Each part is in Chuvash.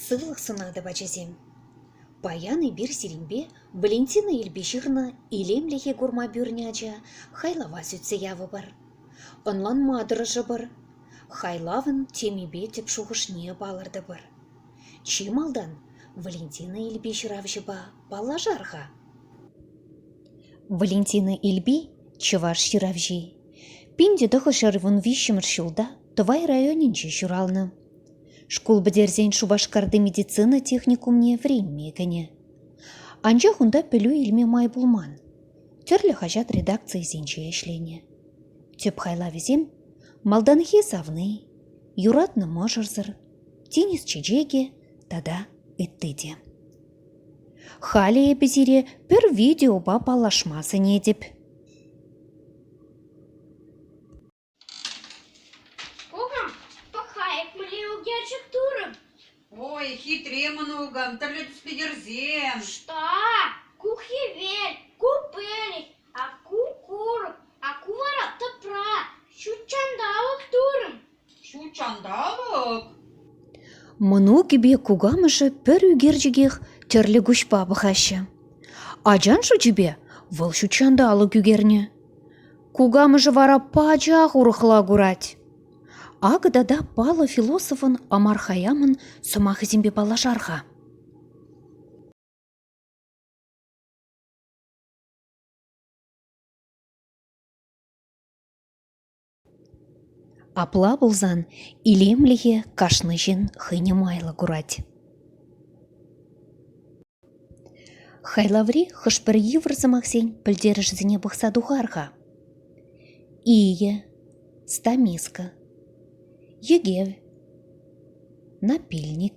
Сывлӑх сӑнатӑп, ачасем. Паян эпир сирӗнпе Валентина ирпе ҫырнӑ илемлӗхе курма пӳрнӗ ача хайлава сӳтсе явӑпӑр. Ӑнланма тӑрӑшӑпӑр, хайлавӑн темипе тӗп шухӑшне палӑртӑпӑр. Чи малтан Валентина Илпи ҫыравҫӑпа паллашар-ха. Валентина Ильпи – чӑваш ҫыравҫи. Пин те тӑхӑшер вун виҫҫӗмӗш ҫулта Тӑвай районӗнче ҫуралнӑ. Шкул пӗтерсен Шупашкарти медицина техникумне вӗренме кӗнӗ. Анчах унта пӗлӳ илме май пулман. Тӗрлӗ хаҫат редакцийӗсенче ӗҫленӗ. Тӗп хайлавӗсем – «Малтанхи савни», «Юратнӑ мӑшӑрсӑр», «Тинӗс чечекӗ» тата ытти те. Халӗ эпӗ сире пӗр видеопа паллашма сӗнетӗп. Кукам, пӑхайӑп мӗнле укерчӗк турӑм. Ой, хитре мӑнукӑм, тӗрлӗ тӗспе йӗрсем. Что? Ку хӗвел, ку пӗлӗт, а ку курӑк, а ку вара тӑпра. Ҫут ҫанталӑк турӑм. Ҫутҫанталӑк? Мӑнукӗпе кукамӑшӗ пӗр ӳкерчӗкех тӗрлӗ куҫпа пӑхаҫҫӗ. Ачан шучӗпе вӑл ҫутҫанталӑк ӳкернӗ. Кукамӑшӗ вара пачах урӑхла курать. Акӑ тата паллӑ философӑн Омар Хӑйямӑн сӑмахӗсемпе паллашар-ха. Апла пулсан илемлӗхе кашни ҫын хӑйне майлӑ курать. Хайлаври хӑш-пӗр йывӑр сӑмахсен пӗлтерӗшӗсене пӑхса тухар-ха. Ие, стамиска, йӗкев, напильник.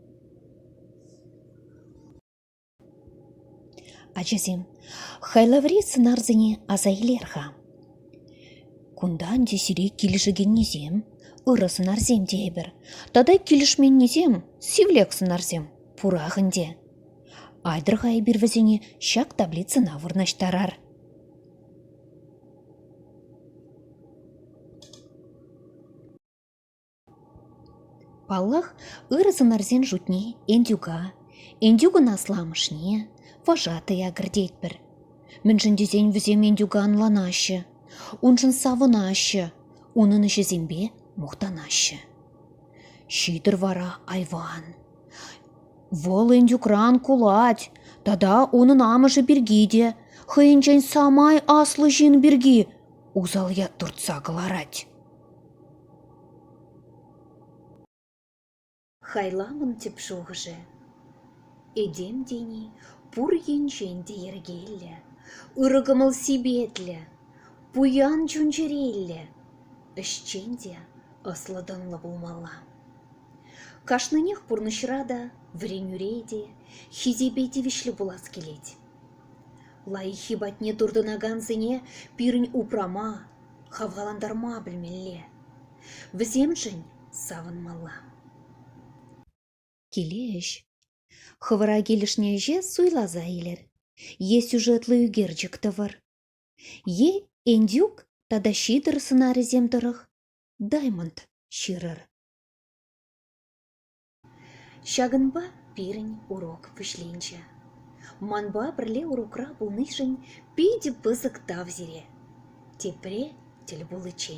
Ачасем, хайлаври сӑнарсене аса илер-ха. Кунта ӗнтӗ сире килӗшекеннисем ырӑ сӑнарсем тейӗпӗр. Тата килӗшменнисем сивлек сӑнарсем пурах ӗнтӗ. Айтӑр-ха эпир вӗсене ҫак таблицӑна вырнаҫтарар. Паллах, ырӑ сӑнарсен шутне Энтюка, Энтюкӑн асламӑшне, вожатӑя кӗртетпӗр. Мӗншӗн тесен вӗсем Энтюка ӑнланаҫҫӗ, уншӑн савӑнаҫҫӗ, унӑн ӗҫӗсемпе мухтанаҫҫӗ. Ҫитӑр вара айван. Вӑл Энтюкран кулать тата унӑн амӑшӗ пирки те хӑйӗнчен самай аслӑ ҫын пирки усал ят туртса кӑларать. Хайлавӑн тӗп шухӑшӗ – этем тени пур енчен те йӗркеллӗ, ырӑ кӑмӑл-сипетлӗ, пуян чун-чӗреллӗ, ӗҫчен те ӑслӑ-тӑнлӑ пулмалла. Кашнинех пурнӑҫра та, вӗренӳре те хисепе тивӗҫлӗ пулас килет. Лайӑххи патне туртӑнакансене пирӗн упрама, хавхалантарма пӗлмелле, вӗсемшӗн савӑнмалла. Киле ӗҫ. Хӑвӑра килӗшнӗ ӗҫе суйласа илӗр е сюжетлӑ ӳкерчӗк тӑвӑр, е индюк тата ҫитӑр сӑнарӗсем тӑрӑх даймонд ҫырӑр. Ҫакӑнпа пирӗн урок вӗҫленчӗ. Манпа пӗрле урокра пулнишӗн питӗ пысӑк тав сире. Тепре тӗл пуличчен.